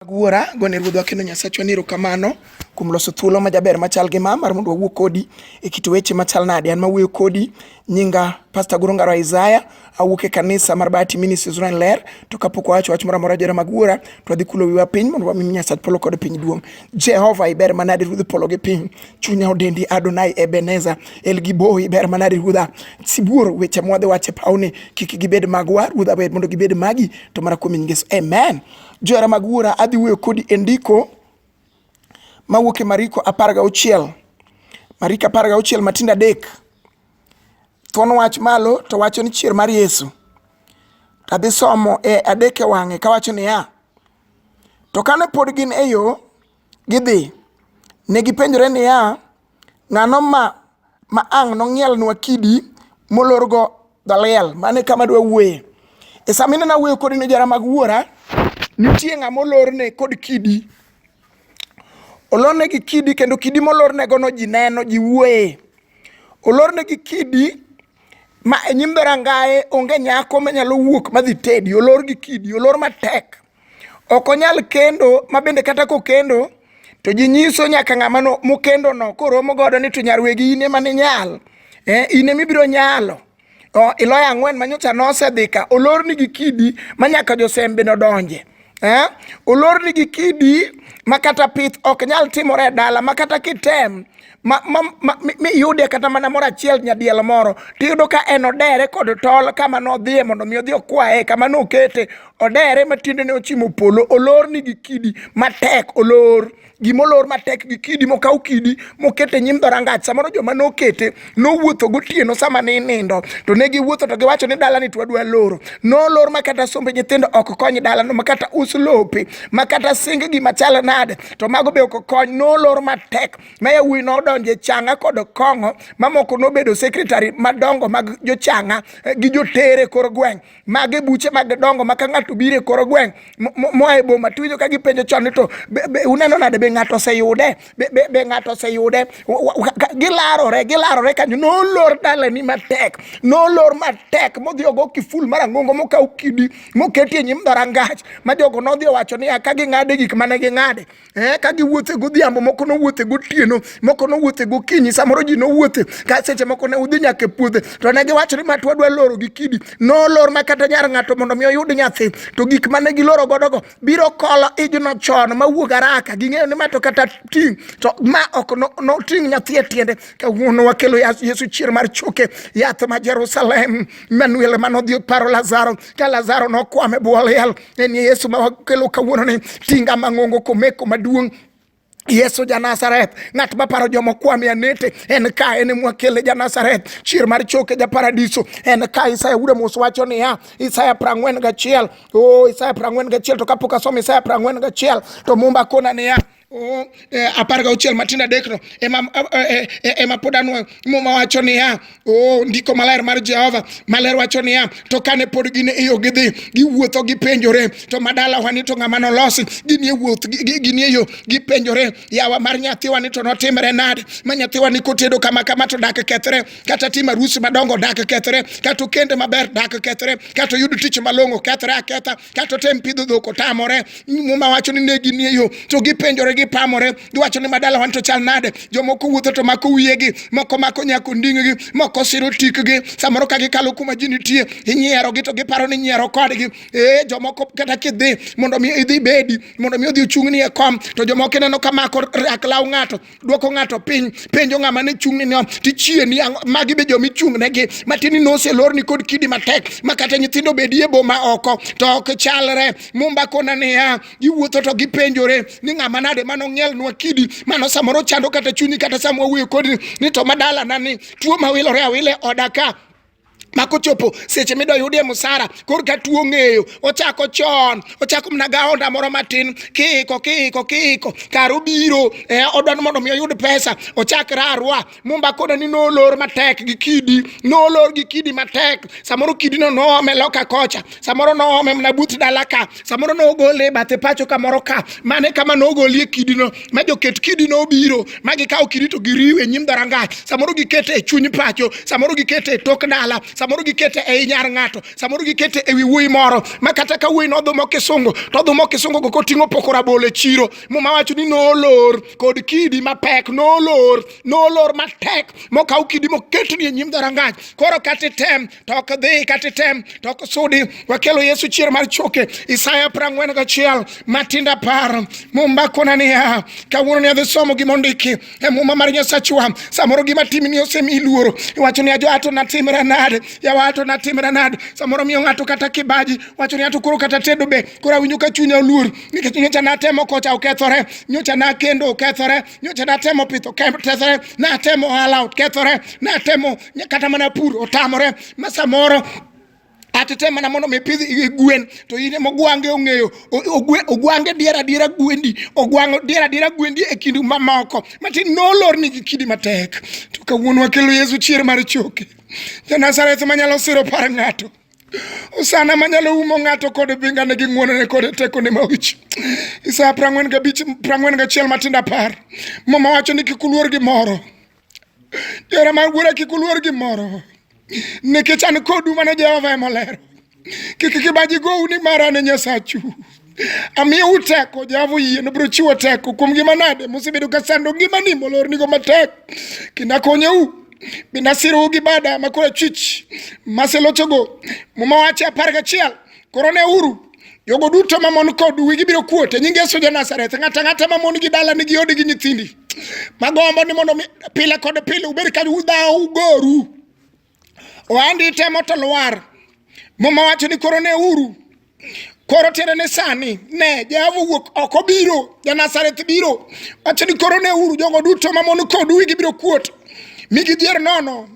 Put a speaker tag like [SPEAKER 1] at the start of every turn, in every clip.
[SPEAKER 1] Mag wuora, gone Ruodhwa kendo Nyasachwa ni erokamano kuom loso thuolo ma jaber machal gi ma mar mondo wawuo kodi e kit weche machal nade. An mawuoyo kodi nyinga Pastor Goro Ngaro Isaiah, awuok e kanisa mar Bahati Ministries Rweny Ler, to kapok wawacho wach moro amora jora mag wuora, to wadhi kulo wiwa piny mondo wami Nyasach polo kod piny duong'. Jehova iber manade Ruodh polo gi piny. chunya odendi Adonai Ebeneza El Giboi ber manade ruodha sibuor weche mwadhi wache pawni kik gibed magwa ruodha ber mondo gibed magi to mana kuom Yesu amen johera mag wuora adhi wuoyo kodi e ndiko mawuok e Mariko apar gauchiel Mariko apar gauchiel matindo adek thuon wach malo to wacho ni chier mar Yesu to adhi somo e adek e wang'e kawacho niya to kane pod gin e yo Gidhi. Ne gipenjore niya, Ng'ano ma ma ang' nong'ielnwa kidi molorgo dhaliel? Mane kama dwa wuoye. E sama ineno awuoyo kodi ne jara mag wuora, nitie ng'ama olorne kod kidi. Olorne gi kidi kendo kidi molornegono ji neno, ji wuoye. Olorne gi kidi ma e nyim dhorangaye onge nyako manyalo wuok madhi tedi. Olor gi kidi, olor matek. ok onyal kendo ma bende kata kokendo to ji nyiso nyaka ng'ama mokendo no koromo godo ni to nyarwegi in ema ninyal eh, in ema ibiro nyalo oh, iloyo ang'wen ma nyocha nosedhi ka olorni gi kidi ma nyaka josembe nodonje eh, olorni gi kidi ma kata pith ok nyal timore e dala ma kata kitem ma, ma, ma, miyude kata mana moro achiel nyadiel moro tiyudo ka en odere kod tol kama nodhiye mondo mi odhi okwaye kama nokete odere ma tiendene ochimo polo olor ni gi kidi matek olor gimolor matek gi kidi mokaw kidi mokete nyim dhorangach samoro joma nokete nowuotho gotieno sama ne inindo to ne giwuotho to giwacho ni dalani to wadwa loro nolor ma kata sombe nyithindo ok kony dalano ma kata us lope ma kata sing gima chal nade to mago be ok kony nolor matek ma yawuoyi nodonjo e changa kod kong'o mamoko nobedo sekretari madongo mag jochanga eh, gi jotere kor gweng' mage buche mag dongo ma ka ng'ato biro e kor gweng' moa e boma tuwinjo ka gipenjo chon ni to uneno nade be ng'ato oseyude be ng'ato oseyude gilarore gilarore kanyo nolor dalani matek nolor matek modhi ogo kiful mar ang'ongo mokaw kidi moketie nyim dhorangach ma jogo nodhi owacho niya ka ging'ade gik mane ging'ade Eh, ka giwuothe godhiambo moko nowuothe gotieno moko nowuothe gokinyi samoro ji nowuothe ka seche moko ne udhi nyaka e puodhe to ne giwacho ni ma twadwa loro gi kidi nolor ma kata nyar ng'ato mondo mi oyud nyathi to gik mane giloro godogo biro kolo ijno chon mawuog araka ging'eyo ni ma to kata ting' to ma ok noting' no nyathi e tiende kawuono wakelo yesu chier mar choke yath ma jerusalem manuel manodhi paro lazaro ka Lazaro nokwamo e bwo liel, en Yesu ma wakelo kawuononi, tinga mang'ongo komeko maduong' Yesu ja Nazareth, ng'at ma paro joma kwame anete, en ka en mwakele ja Nazareth, chier mar choke ja paradiso, en ka Isaya wuda mos wacho niya, Isaya prang'wen gachiel, oh Isaya prang'wen gachiel, to kapok asomo Isaya prang'wen gachiel, to mumba kona niya, Oh, eh, apar gauchiel matindo adekno ema eh, eh, ema pod anwoyo muma wacho niya oh, ndiko maler mar jehova maler wacho niya to kane pod gin e yo gidhi giwuotho gipenjore to madalawa ni to ng'ama nolosi gini e wuoth gini e yo gipenjore yawa mar nyathiwa ni to notimre nade ma nyathiwa ni kotedo kama kama to dak kethre kata tim arusi madongo dak kethre kata okende maber dak kethre kata oyud tich malong'o kethre aketha kato tem pidho dhok otamore muma wacho ni negi nie yo to gipenjore gipamore giwacho ni madala wan to chal nade jomoko wuotho to mako wiyegi moko mako nyako nding'gi moko siro tikgi samoro ka gikalo kuma ji nitie inyierogi to giparo ni nyiero kodgi ee jomoko kata kidhi mondo mi idhi bedi mondo mi odhi ochung'ni e kom to jomoko ineno ka mako rak law ng'ato dwoko ng'ato piny penjo ng'ama ne chung'ne ni tichie ni magi be jomi chung'negi matini noselorni kod kidi matek ma kata nyithindo bedie boma oko to ok chalre mumba kona niya giwuotho to gipenjore ni ng'ama nade mano ng'ielnwa kidi mano samoro chando kata chunyi kata sama wawuoyo kodi ni to madalana ni tuo mawilore awile oda ka ma kochopo seche midwa yudie musara kor ka tuo ng'eyo ochako chon ochako mana gaonda moro matin kiiko kiiko kiiko kar obiro eh, odwa ni mondo mi oyud pesa ochak rarwa mumba koda ni nolor matek gi kidi nolor gi kidi matek samoro kidino noome loka kocha samoro noome mana but dala ka samoro nogole e bathe pacho kamoro ka mane kama nogolie kidino ma joket kidino obiro ma gikawo kidi to giriwe nyim dharangach samoro gikete e chuny pacho samoro gikete e tok dala samoro gikete e inyar ng'ato samoro gikete e wi wuoyi moro ma kata ka wuoyi nodhumo kisungu to odhumo kisungu go koting'o poko rabolo e chiro muma wacho ni nolor kod kidi mapek nolor nolor matek mokaw kidi moketni e nyim dharangach koro kata item to ok dhi kata item to ok sudi wakelo yesu chier mar choke isaya prang'wen gachiel matinda par mumba kona niya kawuono ni adhi somo gima ondiki e muma mar nyasachwa samoro gima timni osemi luoro iwacho ni ajo ato natimra nade yawa ato natimra nade samoro miyo ng'ato kata kibaji wacho ni ato koro kata tedo be koro awinjo ka chunya oluor nikech nyocha natemo kocha okethore nyocha nakendo okethore nyocha natemo pith okethore natemo ohala okethore natemo kata mana pur otamore ma samoro atete mana mondo mi pidh gwen to in ema ogwange ong'eyo ogwange dier adiera gwendi ogwango dier adiera gwendi e kindu mamoko matin nolorni gi kidi matek to kawuono wakelo yesu chier mar choke janazareth manyalo siro par ng'ato osana manyalo umo ng'ato kod bingane gi ng'wonone kod tekone maoch isaya prang'wen gabich prang'wen gachiel matindo apar mama wacho ni kik uluor gi moro Jera mar wuora kik uluor gimoro nikech an kodu mana Jehova ema olero. Kik kibaji gowu ni mara ne Nyasachu. Amiyo uteko Jehova oyie nobiro chiwo teko kuom gima nade musebedo ka sando ngimani molornigo matek kendo akonyou bende asirou gi bada makoro achwich maselochogo muma wache apar gachiel koro ne uru jogo duto mamon kod wigi biro kuot e nying Yesu ja Nazareth. Ng'ata ng'ata mamon gi dala nigi odi gi nyithindi magombo ni mondo pile kod pile ubed ka udhawo ugoru ohandi temo to lwar muma wacho ni koro ne uru koro tiende ni sani ne Jehova wuok oko biro ja Nazareth biro wacho ni koro ne uru jogo duto mamon kod wigi biro kuot mi gidhier nono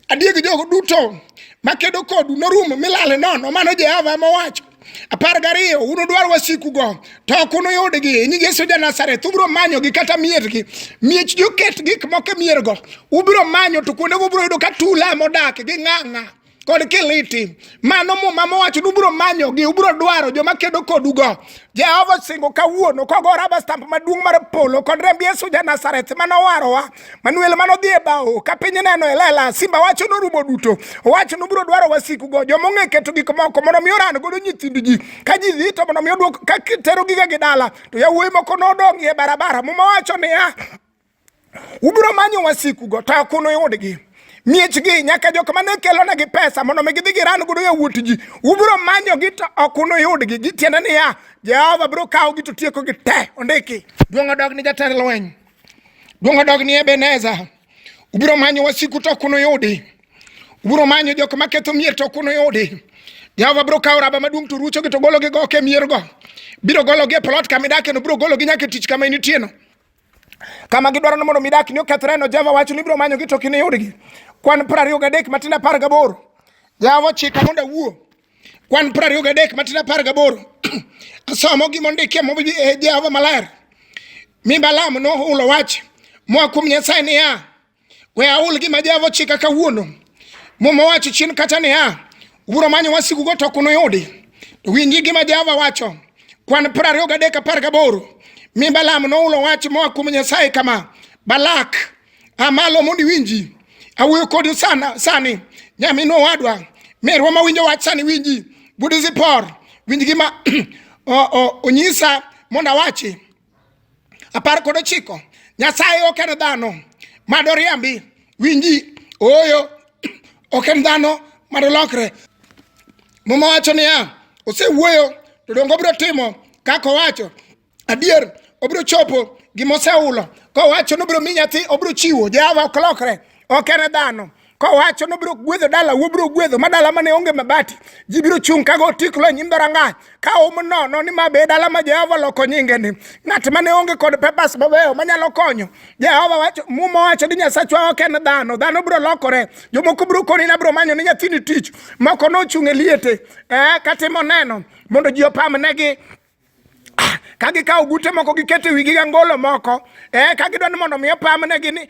[SPEAKER 1] adier gi jogo duto makedo kodu norumo milale nono mano jehova mowacho apar gariyo unudwar wasikugo to ok unuyudgi nying yesu ja nazareth ubiro manyogi kata miergi miech joket gik moko e miergo ubiro manyo to kuondego ubiro yudo ka tula modak gi ng'ang'a kod kiliti mano muma mowacho ni ubiro manyogi ubiro dwaro joma kedo kodugo jehova osingo kawuono kogora bastamp maduong' mar polo kod remb yesu ja nazareth manowarowa Manuel mano dhi e bao ka piny neno e lela simba wacho norumo duto owacho nobiro dwaro wasiku go joma ong'e keto gik moko mondo mi oran godo nyithind ji ka ji dhi to mondo mi odwok ka tero giga gi dala to yawuoyi moko nodong' e barabara muma wacho niya ubiro manyo wasiku go to ok unuyudgi miechgi nyaka jok mane kelonegi pesa mondo mi gidhi giran godo yawuot ji ubiro manyogi to ok unuyudgi gitiende niya jehova biro kawogi to tiekogi te ondiki duong' odog ni jatend lweny Duong' odogni Ebeneza. Ubiro manyo wasiku to ok unuyudi. Ubiro manyo jok ma ketho mier to ok unuyudi. Jehova biro kawo raba maduong' to ruchogi to gologi go ok e miergo. Biro gologi e plot kama idakeno, biro gologi nyaka e tich kama initieno. Kama gidwaro ni mondo midak ni okethreno, Jehova wacho ni ibiro manyogi to ok iniyudgi. Kwan piero ariyo gadek matindo apar gaboro. Jehova ochika mondo awuo. kwan piero ariyo gadek matin apar gaboro asomo gima ondikie mobi e Jehova maler mi Balaam nohulo wach moa kuom Nyasaye niya we ahul gima Jehova ochika kawuono Muma owacho chien kacha niya ubiro manyo wasikugo to ok unuyudi to winji gima Jehova wacho kwan piero ariyo gadek apar gaboro mi Balaam nohulo wach moa kuom Nyasaye kama Balak amalo mondo iwinji awuoyo kodi sana sani nyaminwa owadwa merwa ma winjo wach sani winji budi zipor winj gima onyisa mondo awachi apar kod ochiko nyasaye ok en dhano mado riambi winji ooyo ok en dhano mado lokre muma wacho niya osewuoyo to dongo biro timo kaka owacho adier obiro chopo gima osehulo kowacho ni obiro mi nyathi obiro chiwo jehova ok lokre ok en dhano kowacho ni obiro gwedho dala wobiro gwedho ma dala mane onge mabati ji biro chung' kago otiklo e nyim dhorangach ka um nono ni ma be dala ma jehova loko nyingeni ng'at mane onge kod pepas mabeyo manyalo konyo jehova wacho muma wacho ni nyasachwa ok en dhano dhano biro lokore jomoko biro koni na biro manyo ni nyathini tich moko nochung' e liete eh, katimo neno mondo ji opamnegi Ah, ka gikawo gute moko giketo e wigi gi angolo moko eh, ka gidwa ni mondo mi opamnegi ni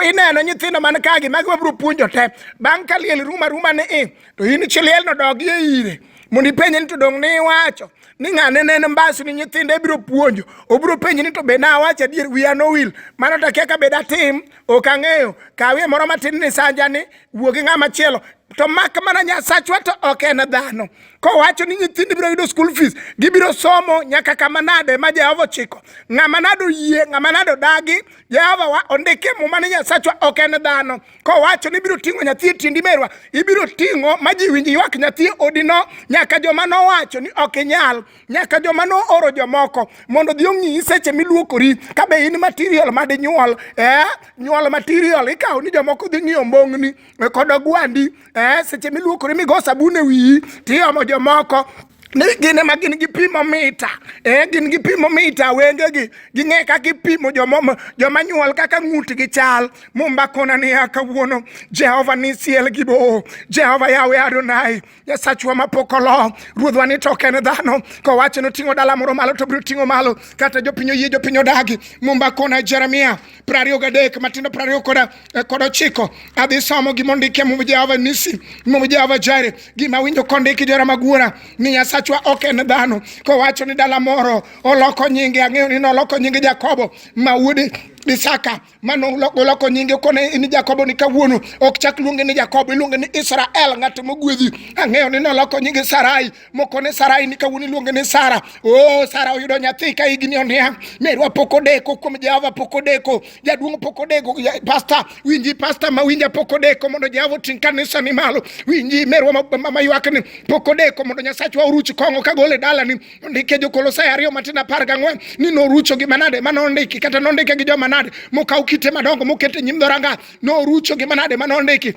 [SPEAKER 1] ineno nyithindo man kagi magi wabiro puonjo te bang' ka liel ruma ruma ni i to in chiliel no dogi e ire mondo ipenje ni to dong' ni iwacho ni ng'ane ne en mbasi ni nyithindo ibiro puonjo obiro penji ni to be nawacho adier wiya nowil mano to akia ka be datim ok ang'eyo kawie moro matin ni sanjani wuo gi ng'ama chielo to mak mana nyasachwa to ok en dhano kowacho ni nyithindo biro yudo school fees gibiro somo nyaka kama nade ma jehova ochiko ng'ama nado yie ng'ama nado dagi jehova wa ondike muma ni nyasachwa ok en dhano kowacho ni ibiro ting'o nyathi e tindi merwa ibiro ting'o ma ji winj ywak nyathi e odino nyaka joma nowacho ni ok inyal nyaka joma nooro jomoko mondo dhi ong'iyi seche miluokori ka be in material madinyuol eh? nyuol material ikawo ni jomoko dhi ng'iyo mbong'ni kodo gwandi eh, seche miluokore migo sabun e wiyi tiomo jomoko ni gin ema gin gi pimo mita eh, gin gi pimo mita wengegi ging'e kaka ipimo joma joma nyuol kaka ng'utgi chal mumbakona niya kawuono jehova nisiel gi boo jehova yawe adonai Nyasachwa mapok olo, ruodhwa ni to ok en dhano. Kowacho ni oting'o dala moro malo to biro ting'o malo, kata jopiny oyie jopiny odagi. Mumba kona Jeremia prariyo gadek matindo prariyo koda eh, kod ochiko adhi somo gima ondiki e Muma Jehova Nisi, Muma Jehova Jire, gima winjo kondiki jora magwara ni Nyasachwa ok en dhano. Kowacho ni dala moro oloko nyinge, ang'eyo ni noloko nyinge Jakobo ma wuode Isaka mano noloko nyinge kone in Jakobo ni kawuono ok chak luonge ni Jakobo iluonge ni Israel ng'at mogwedhi ang'eyo ni noloko nyinge Sarai mokone Sarai ni kawuono iluonge ni Sara oh Sara oyudo nyathi ka higni oniang' merwa pok odeko kuom Jehova pok odeko jaduong' pok odeko pasta winji pasta ma winja pok odeko mondo Jehova oting' kanisa ni malo winji merwa ma ywakni pok odeko mondo Nyasachwa oruch kong'o kagole dalani Ndike Jokolosai ariyo matin apar gang'wen ni norucho gi manade ma nondiki kata nondike gi joma nade mokaw kite madongo moket e nyim dhoranga norucho gi manade ma nondiki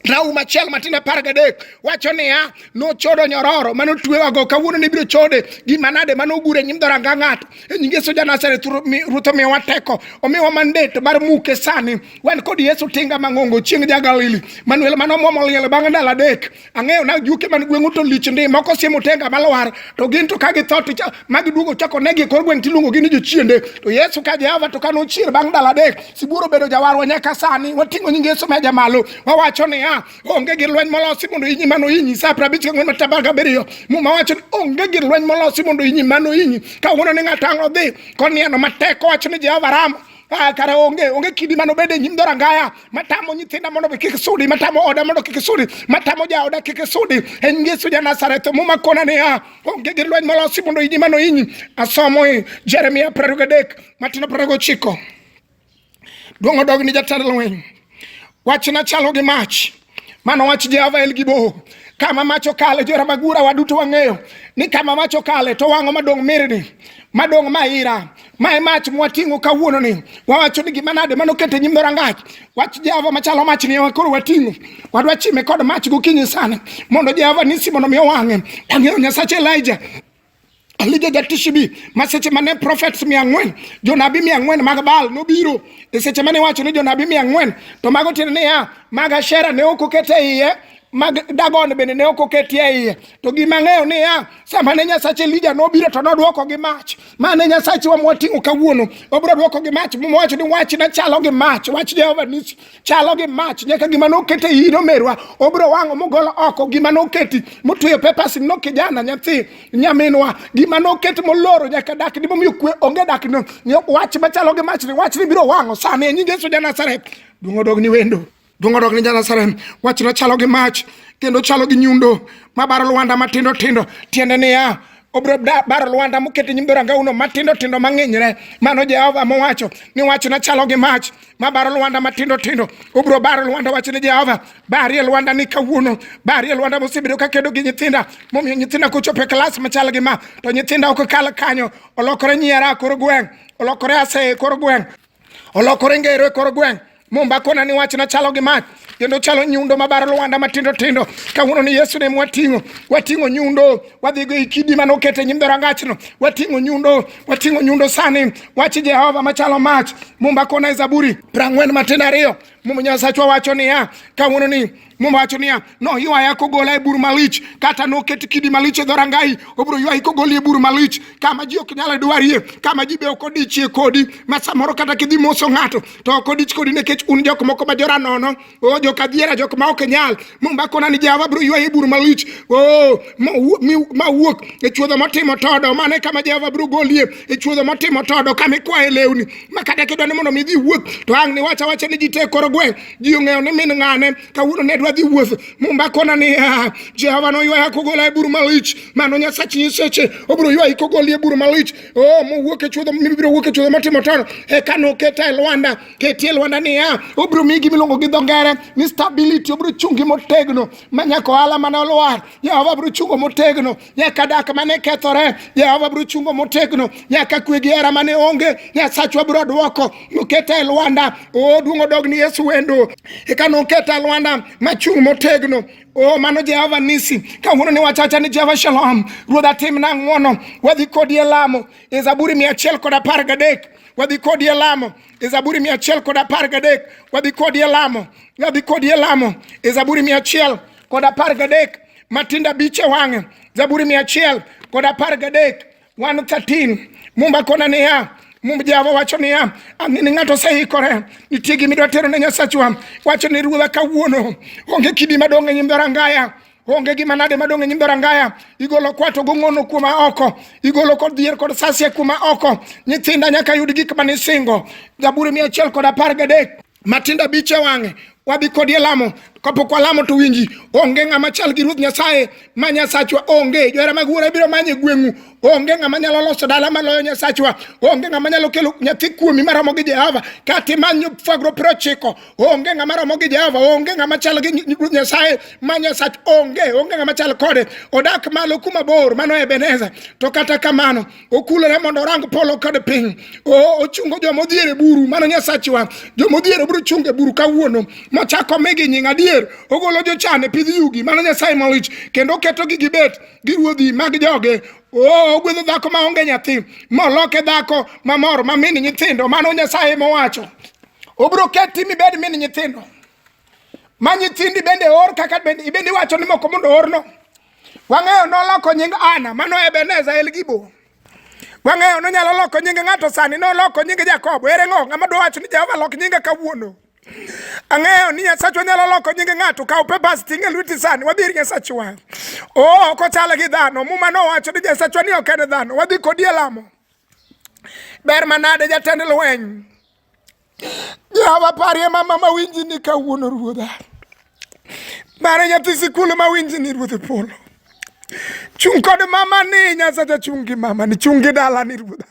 [SPEAKER 1] Raum achiel matin apar gadek wacho niya, nochodo nyororo mane otwewago kawuono ne biro chode gi manade mane ogure nyim dhoranga ng'ato. E nying Yesu Janazareth Ruoth omiyowa teko, omiyowa mandate mar muke sani. Wan kod Yesu tinga mang'ongo chieng' ja Galili. Manuel mane omwomo liel bang' ndalo adek ang'eyo na juke man gweng'u to lich ndi moko siemo tenga malwar to gin to ka githo to ma giduogo chako negi e kor gweng' tiluongogi ni jochiende to yesu ka jehova to ka nochier bang' ndalo adek sibuoro bedo jawarwa nyaka sani wating'o nying yesu meja malo wawacho niya onge gir lweny molosi mondo inyi mano inyi sa prabich ka ng'wen mataba gabiriyo muma wacho ni onge gir lweny molosi mondo inyi mano inyi ka wuono ni ng'ato ang' odhi konieno matek owacho ni jehova rama Ah, kara onge onge kidi mano bede nyim dora ngaya matamo nyithinda mondo be kik sudi matamo oda mondo kik sudi matamo ja oda kik sudi en Yesu ja Nazareth muma kona ne ya onge gi lweny molosi mondo inyi mano inyi asomo e Jeremia 23 matino 29 duong odog ni jatend lweny Wachna chalo gi mach. Mano wach Jehova El Gibor. Kama mach okale, jora magura waduto wang'eyo ni kama mach okale to wang'o madong' mirni, madong' maira. Mae mach mwating'o kawuono ni wawacho ni gima nade mano kete nyim rangach. Wach Jehova machalo mach ni koro wating'o. Wadwa chime kod mach gokinyi sana mondo Jehova nisi mondo mi owang'e. Ang'eyo Nyasache Elijah Alide de Tishibi, ma seche mane prophets mia ang'wen, jonabi mia ang'wen mag Baal nobiro, e seche mane wacho ni jonabi mia ang'wen, to mago tiende niya, mag Ashera ne ok oket e iye, mag Dagon bende ne ok oketie e iye. To gima ng'eyo niya, sama ne Nyasach Elija nobiro to nodwoko gi mach. Ma ne Nyasachwa mwating'o kawuono, obiro dwoko gi mach, mowacho ni wachna chalo gi mach, wach Jehova nisi. chalo gi mach nyaka gima nokete iyi nomerwa obiro wang'o mogolo oko gima noketi motweyo pepas no kijana nyathi nyaminwa gima noket moloro nyaka dak ni momiyo kwe onge dak no wach machalo gi mach ni wach ni biro wang'o sani e nying Yesu ja Nazareth duong' odog ni wendo duong' odog ni ja Nazareth wach no chalo gi mach kendo chalo gi nyundo mabaro lwanda matindo tindo tiende niya obiro baro lwanda mokete nyim dhorangauno matindo tindo mang'inyre mano Jehova mowacho ni wachna chalo gi mach mabaro lwanda matindo tindo ubro baro lwanda wachne jehova barie lwanda ni kawuono barie lwanda mosebedo ka kedo gi nyithinda momiyo nyithinda kochopo e klas machal gi ma to nyithinda ok kal kanyo olokore nyiera kor gweng' olokore aseye kor gweng' olokore ngero e kor gweng' mumba kona ni wachna chalo gi mach kendo chalo nyundo mabaro lwanda matindo tindo kawuono ni yesu ne mwating'o wating'o nyundo wadhigo e kidi mane okete nyim dhorangachno wating'o nyundo wating'o nyundo sani wach jehova machalo mach mumba kona e zaburi prang'wen matindo ariyo muma nyasachwa wacho niya kawuono ni muma wacho niya noywaya kogola e bur malich kata noket kidi malich e dhorangai obiro ywayi kogoli e bur malich kama ji ok nyal dwarie kama ji be ok odichie kodi ma samoro kata kidhi moso ng'ato to ok odich kodi nikech un jok moko ma jora nono o oh, jok adiera jok ma ok nyal mombakona ni jehova biro ywaye bur malich o oh, ma wuok e chuodho motimo todo mane kama jehova biro golie e chuodho motimo todo kama ikwaye lewni ma kata kidwa ni mondo mi dhi wuoth to ang' ni wacha wacha ni ji te koro gweng' ji ong'eyo ni min ng'ane kawuono ne dwa dhi wuoth mombakona ni ah, jehova noywaya kogola e bur malich mano nyasach nyiseche obiro ywayi kogolie bur malich Oh, mowuok e chuodho mibiro wuok e chuodho matimo tono eka noketa e lwanda ketie lwanda niya obiro miyi gima iluongo gi dho ngere ni stability obiro chungi motegno ma nyaka ohala mane olwar jehova biro chungo motegno nyaka dak mane kethore jehova biro chungo motegno nyaka kwe gi hera mane onge nyasachwa biro dwoko noketa e lwanda oduong' odog ni yesu wendo eka noketa e lwanda machung' motegno Oh, mano Jehova Nisi, kawuono ni wachacha ni Jehova Shalom, Ruodha timna ng'wono, wadhi kodi e lamo, e Zaburi mia achiel kod apar gadek wadhi kodi e lamo e Zaburi mia achiel kod apar gadek wadhi kodi e lamo wadhi kodi e lamo e Zaburi mia achiel kod apar gadek matinda biche wang'e Zaburi mia achiel kod apar gadek 113 mumba kona niya mumb jehova wacho niya ang'e ni ng'ato oseikore nitie gima idwa tero ne nyasachwa wacho ni ruodha kawuono onge kidi madong' e nyim dhorangaya onge gima nade madong' e nyim dhorangaya igolo kwato gong'ono kuma oko igolo kod dhier kod sasie kuma oko nyithinda nyaka yud gik manisingo zaburi mia achiel kod apar gadek matindo abich e wang'e wabi kodi e lamo kapok walamo to winji onge ng'ama chal gi ruoth nyasaye ma nyasachwa onge johera mag wuora biro manye gweng'u onge ng'ama nyalo loso dala maloyo nyasachwa onge ng'ama nyalo kelo nyathi kuomi maromo gi jehova kata imanyo fagro piero ochiko onge ng'ama romo gi jehova onge ng'ama chal gi ruoth nyasaye ma nyasach onge onge ng'ama chal kode odak malo kuma bor mano ebeneza to kata kamano okulore mondo orang polo kod piny ochungo joma odhier e buru mano nyasachiwa joma odhier e buru chungo e buru kawuono mochako migi nying adier ogolo jochan e pidh yugi mano nyasaye malich kendo oketogi gibet gi ruodhi mag joge Oh, ogwedho dhako ma onge nyathi moloke dhako mamor ma mini nyithindo mano nyasaye mowacho obiro keti mibed mini nyithindo ma nyithindi bende or kaka bende iwacho ni moko mondo orno Wang'eyo noloko nying Ana, mano Ebeneza el Gibo. Wang'eyo nonyalo loko nying ng'ato sani, noloko nying Jakobo. Ere ng'o ng'ama dwa wacho ni Jehova lok nyinga kawuono? Ang'eyo ni Nyasachwa nyalo loko nying ng'ato, kaw papers ting' e lweti sani, wadhi ir Nyasachwa. Oh, ok ochal gi dhano. Muma nowacho ni Nyasachwa ni ok en dhano. Wadhi kodi e lamo. Ber manade jatend lweny. Jehova parie mama ma winji ni kawuono ruodha. Mare nyathi sikul ma winji ni ruodhe polo. Chung' kod mama ni Nyasacha chung' gi mama ni chung' gi dala ni ruodha.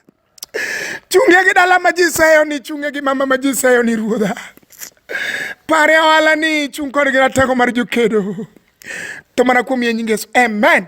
[SPEAKER 1] Chung'e gi dala ma ji seyo ni chung'e gi mama ma ji seyo ni ruodha. Parie ohala ni chung' kod gi ratego mar jokedo. To mana kuom yie nyingeso. Amen.